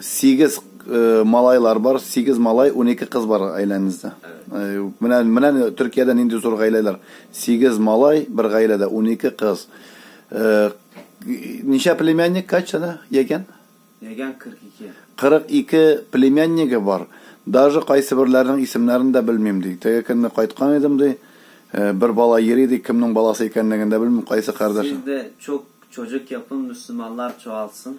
Сигез малайлар бар, сигез малай, унике кыз бар гаиләңездә. Менә, менә Төркиядә нинди зур гаиләләр. Сигез малай, бер гаиләдә унике кыз. Ничә племянник, кача да, ягән? Ягән 42. 42 племяннигы бар. Даже кайсыберләренең исемнәрен дә белмим, ди. Теге көнне кайткан идем, ди. Бер бала йөри, ди, кемнең баласы икәнлеген дә белмим, кайсы кардәш. Сез дә чок, чоҗек япын, мөселманлар чоалсын.